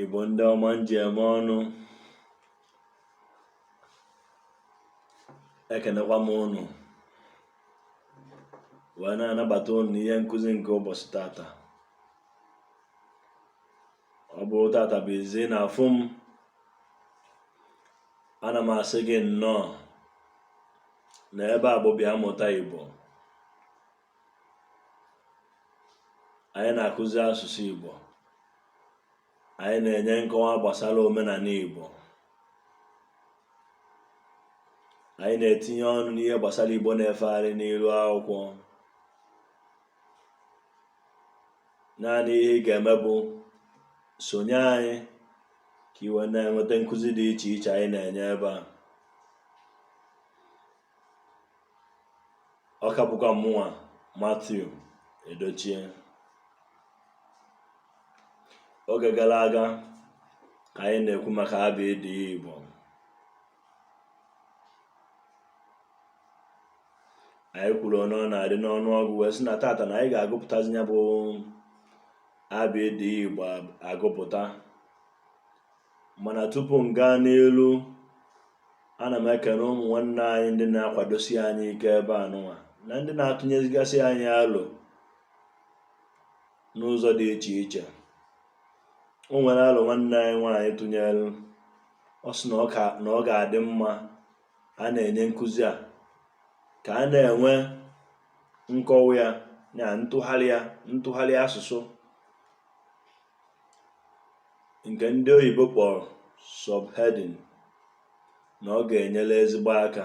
Igbo ndị ọma m ji eme ọnụ ekenekwa m ụnụ wee na-anabata ụnụ n'ihe nkụzi nke ụbọchị tata ọ bụrụ tata bụ izi ị na-afụ m ana m asị gị nnọọ na ebe a bụ bịa mụta Igbo anyị na-akụzi asụsụ Igbo anyị na-enye nkọwa gbasara omenala Igbo anyị na-etinye ọnụ n'ihe gbasara Igbo na-efegharị n'iru akwụkwọ naanị ihe ị ga-eme bụ sonye anyị ka i wee na-enweta nkụzi dị iche iche anyị na-enye ebe a ọ ka bụkwa mụnwa Matthew Edochie oge gara aga ka anyị na-ekwu maka abịdị Igbo anyị kwuru one ọ na-adị n'ọnụ ọgụ wee sị na tata na anyị ga-agụpụtazi ya bụ abịdị Igbo agụpụta mana tupu m gaa n'iru ana m ekene ụmụ nwanne anyị ndị na-akwadosi anyị ike ebe a nụnwa na ndị na-atụnyezigasị anyị alo n'ụzọ dị iche iche o nwere alo nwanne anyị nwaanyị tụnyere ọ sị na ọ ga-adị mma a na-enye nkụzi a ka a na-enwe nkọwa ya na ntụgharị ya ntụgharị asụsụ nke ndị oyibo kpọrọ subheading na ọ ga-enyere ezigbo aka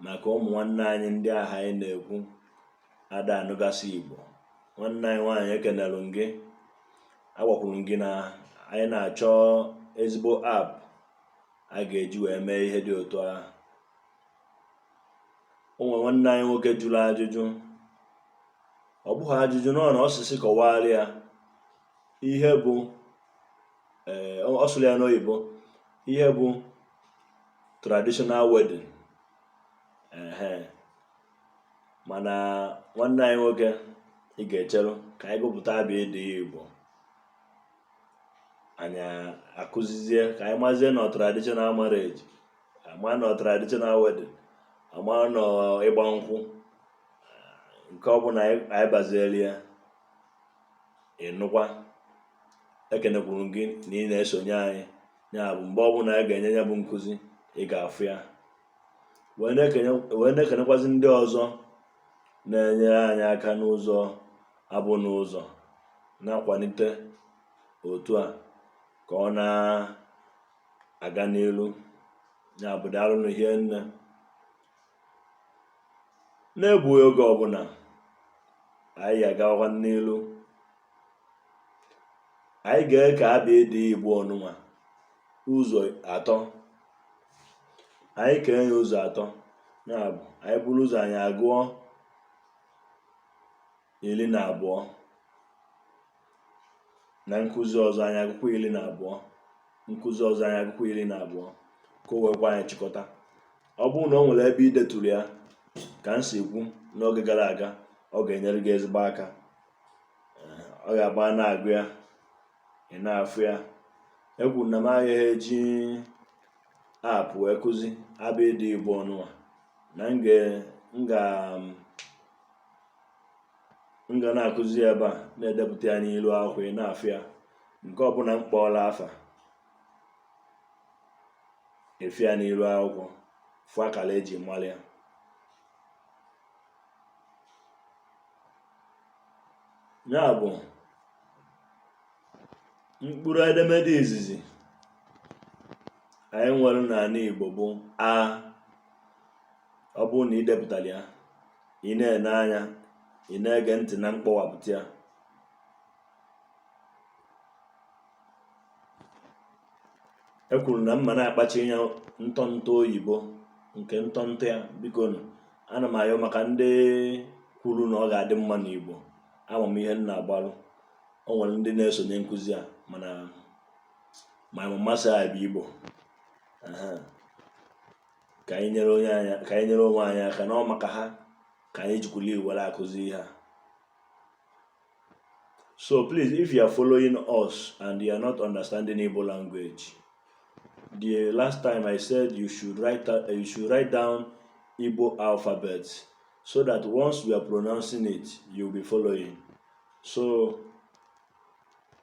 maka ụmụ nwanne anyị ndị ahụ anyị na-ekwu ada anụgasị Igbo nwanne anyị nwaanyị ekenelụ m gị agwakwuru m gị na anyị na-achọ ezigbo app a ga-eji wee mee ihe dị otu ahụ o nwere nwanne anyị nwoke jụrụ ajụjụ ọ bụghị ajụjụ nnọọ na ọ sị sị kọwara ya ihe bụ ee eh, ọ sụrụ ya n'oyibo ihe bụ traditional wedding ehe mana nwanne anyị nwoke ị ga-echere ka anyị gụpụta abịdị Igbo anyị akụzizie ka anyị mazie na traditional marriage ama nọ traditional wedding ama nọ ịgba nkwụ nke ọ bụla anyị baziere ya ịnụkwa ekenekwuru m gị na ị na-esonye anyị ya bụ mgbe ọbụla anyị ga-enye ya bụ nkụzi ị ga-afụ ya wee na-ekenekwazi ndị ọzọ na-enyere anyị aka n'ụzọ abụ n'ụzọ na-akwalite otu a ka ọ na aga n'ilu ya bụ daalụnụ hie nne na-egbughị oge ọbụla anyị agawakwa n'ilu anyị ga-eke abịdịị igbo ọnụnwa ụzọ atọ anyị kee ya ụzọ atọ ya bụ anyị buru ụzọ anyị agụọ ili na abụọ na nkụzi ọzọ anyị agụkwa ili na abụọ nkụzi ọzọ anyị agụkwa ili na abụọ ka o wee kwe anyị chịkọta ọ bụrụ na o nwere ebe ị detụrụ ya ka m si kwu n'oge gara aga ọ ga-enyere gị ezigbo aka ọ ga-abụ a na-agụ ya ị na-afụ ya ekwuru m na m agaghị eji app wee kụzi abịdịị igbo ọnụnwa na m ga m ga na-akụzi ebe a na-edepụta ya n'ilu akwụkwọ ị na-afụ ya nke ọbụla m kpọọla afa ị fụ ya n'ilu akwụkwọ fụ akara eji malụ ya ya bụ mkpụrụ edemede izizi anyị nwere n'anị Igbo bụ a ọ bụrụ na ị depụtara ya ị na-ene anya ị na-ege ntị na mkpọwapụta ya ekwuru m na m ma na-akpachinye ntọntọ oyibo nke ntọntọ ya bikonụ ana m ayọ maka ndị kwuru na ọ ga-adị mma n'Igbo ama m ihe m na-agbalụ o nwere ndị na-esonye nkụzi a mana amaghị m ma sị ha bụ Igbo ka anyị nyere onwe anyị aka na ọ maka ha ka anyị jikwulu were akụzi ihe a so please if you are following us and you are not understanding Igbo language the last time I said you should write down Igbo alphabet so that once we are pronouncing it you'll be following so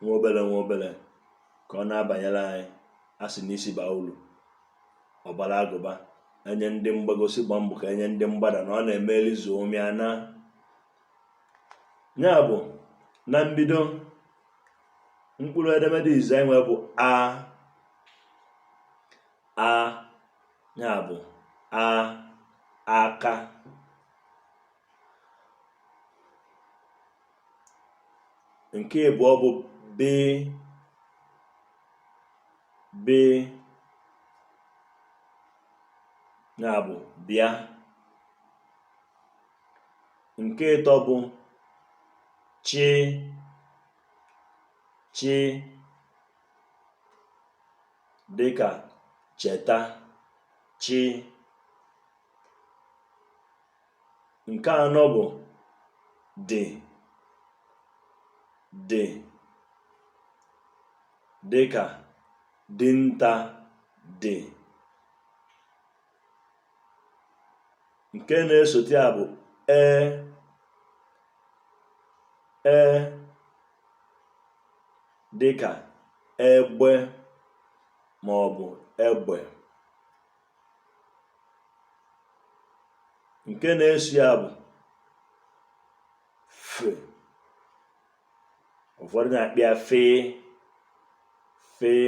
nwa obere nwa obere ka ọ na-abanyere anyị a sị na isi baa uru ọ baara agụba e nye ndị mgbago sị gba mbọ ka e nye ndị mgbada na ọ na-eme e lizuo mịa na ya bụ na mbido mkpụrụ edemede izizi e nwe bụ a a ya bụ a aka nke abụọ bụ b b ya bụ bịa nke ịtọ bụ chị chị dịka cheta chị Nke anọ bụ dị dị dịka dinta dị. Nke na-esote ya bụ ee ee dịka egbe maọbụ egbe. nke na-eso ya bụ fe ụfọdụ na-akpọ ya fịị fịị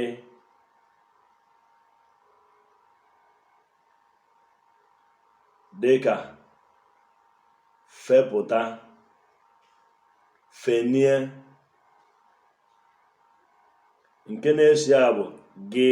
dịka fepụta fenie nke na-eso ya bụ gị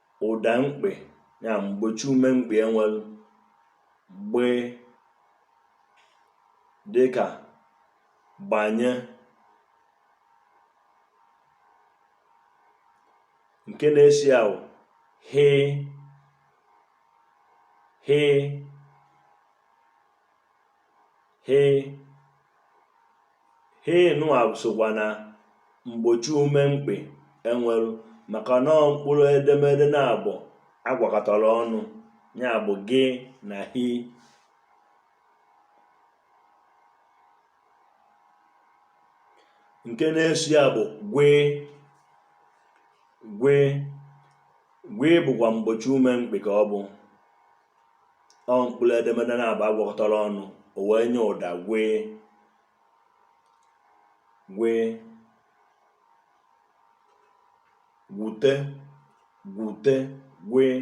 Ụda mkpị ya mgbochiume mkpị e nwelu gbe dịka gbanye nke na-eso ya bụ ghe ghe ghe ghe nụa sokwa na mgbochiume mkpị e nwelu maka na ọ mkpụrụ edemede naabọ a gwakọtara ọnụ ya bụ gị na hi nke na-eso ya bụ gwe gwe gwe bụkwa mgbochiume mkpị ka ọ bụ ọ mkpụrụ edemede naabọ a gwakọtara ọnụ o wee nye ụda gwee gwee gwute gwute gwee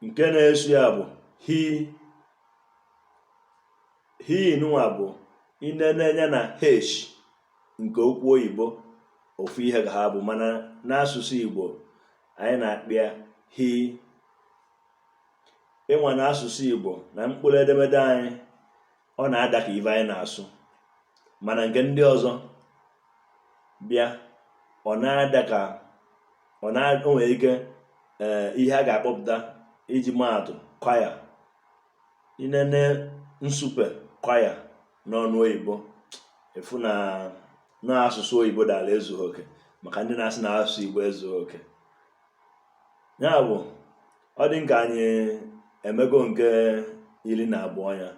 nke na-eso ya bụ hi Hi nụnwa bụ i nene anya na h nke okwu oyibo ofu ihe ka ha bụ mana n'asụsụ Igbo anyị na-akpọ ya hi i nwa na asụsụ Igbo na mkpụrụ edemede anyị ọ na-ada ka ife anyị na-asụ mana nke ndị ọzọ bịa ọ na-ada ka o nwere ike eh, ihe a ga-akpọpụta iji maa atụ kwa ya i nene nsupe kwa ya n'ọnụ oyibo i fụ na na asụsụ oyibo dara ezughị oke maka ndị na-asị na asụsụ igbo ezughị oke ya bụ ọ dị nke anyị emego nke iri na abụọ ya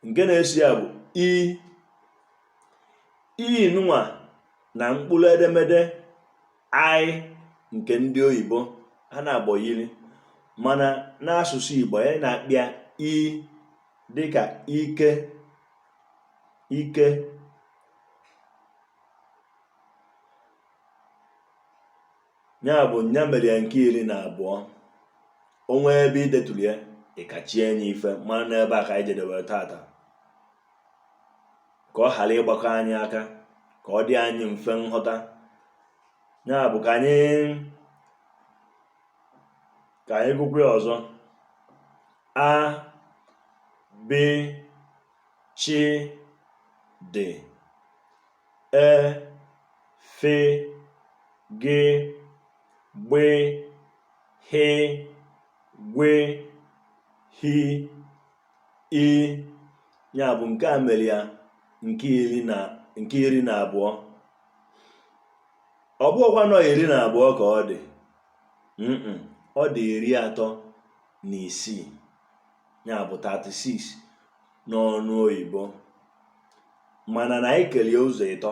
nke na-eso ya bụ i i nụnwa na mkpụrụ edemede I nke ndị oyibo ha naabọ yiri mana n'asụsụ Igbo anyị na-akpọ ya i dịka ike ike ya bụ nya mere ya nke iri na abụọ o nwee ebe i deturu ya ị kachie nye ife mara n'ebe a ka anyị jedewere tata ka ọ ghara ịgbakọ anyị aka ka ọ dị anyị mfe nghọta ya bụ ka anyị ka anyị gụkwa ya ọzọ a b ch d e f g gb gh gw h i ya bụ nke a mere ya nke iri na abụọ ọ bụghịkwa na ọ iri na abụọ ka ọ dị ọ dị iri atọ na isii ya bụ 36 n'ọnụ oyibo mana na anyị kelie ụzọ ịtọ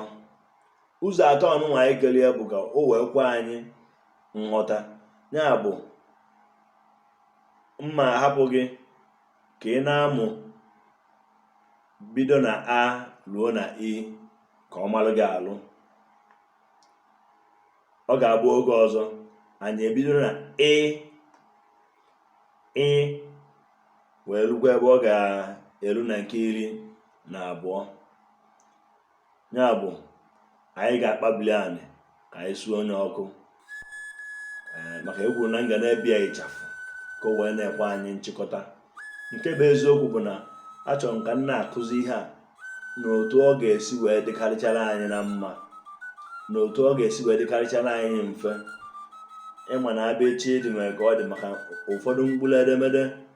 ụzọ atọ nụnwa anyị kelie bụ ka o wee kwe anyị nghọta ya bụ m ma ahapụ gị ka ị na-amụ bido na a ruo na i ka ọ malụ gị alụ ọ ga-abụ oge ọzọ anyị ebido na ị ị wee rukwa ebe ọ ga-eru na nke iri na abụọ ya bụ anyị ga-akpabili anị ka anyị sunye ọkụ eh, maka e kwuru na m ga na-ebi ya ịchafụ ka o wee na-ekwe anyị nchịkọta nke bụ eziokwu bụ na achọrọ m ka m na-akụzi ihe a n'otu ọ ga-esi wee dịkarịchara anyị na mma n'otu ọ ga-esi wee dịkarịchara anyị mfe ịma na abịchịdị nwere ka ọ dị maka ụfọdụ mkpụrụ edemede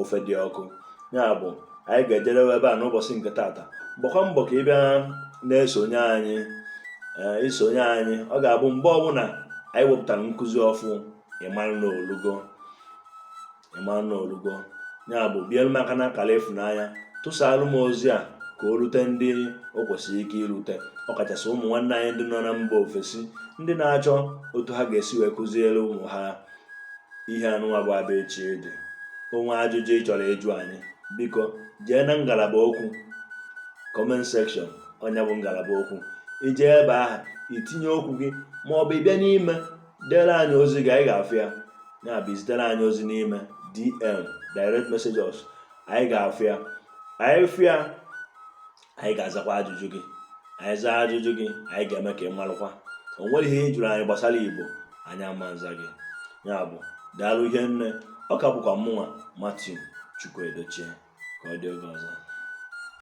ofe dị ọkụ ya bụ anyị ga-ejedebe ebe a n'ụbọchị nke tata gbakwa mbọ ka ị bịa na-esonye anyị eh, i sonye anyị ọ ga-abụ mgbe ọbụla anyị wepụtara nkụzi ọfụ ịmara na o lugo ya bụ bielu m aka n'akara ịfụnanya tụsaalụ m ozi a ka o rute ndị o kwesịrị ike irute ọkachasị ụmụ nwanne anyị ndị nọ na mba ofesi ndị na-achọ otu ha ga-esi wee kụziere ụmụ ha ihe anụnwa bụ abịchịdị o nwee ajụjụ ị chọrọ ịjụ anyị biko jee na ngalaba okwu comment section ọ ya bụ ngalaba okwu i jee ebe ahụ i tinye okwu gị ma ọ bụ ị bịa n'ime dere anyị ozi gị anyị ga-afụ ya ya bụ i zitere anyị ozi n'ime dm direct messages anyị ga-afụ ya anyị fụ ya anyị ga-azakwa ajụjụ gị anyị zaa ajụjụ gị anyị ga-eme ka ị marụkwa o nwerọ ihe ị jụrụ anyị gbasara igbo anyị ama aza gị ya bụ daalụ ihe nne ọ ka bụkwa mụnwa Martin Chukwuedochie ka ọ dị oge ọzọ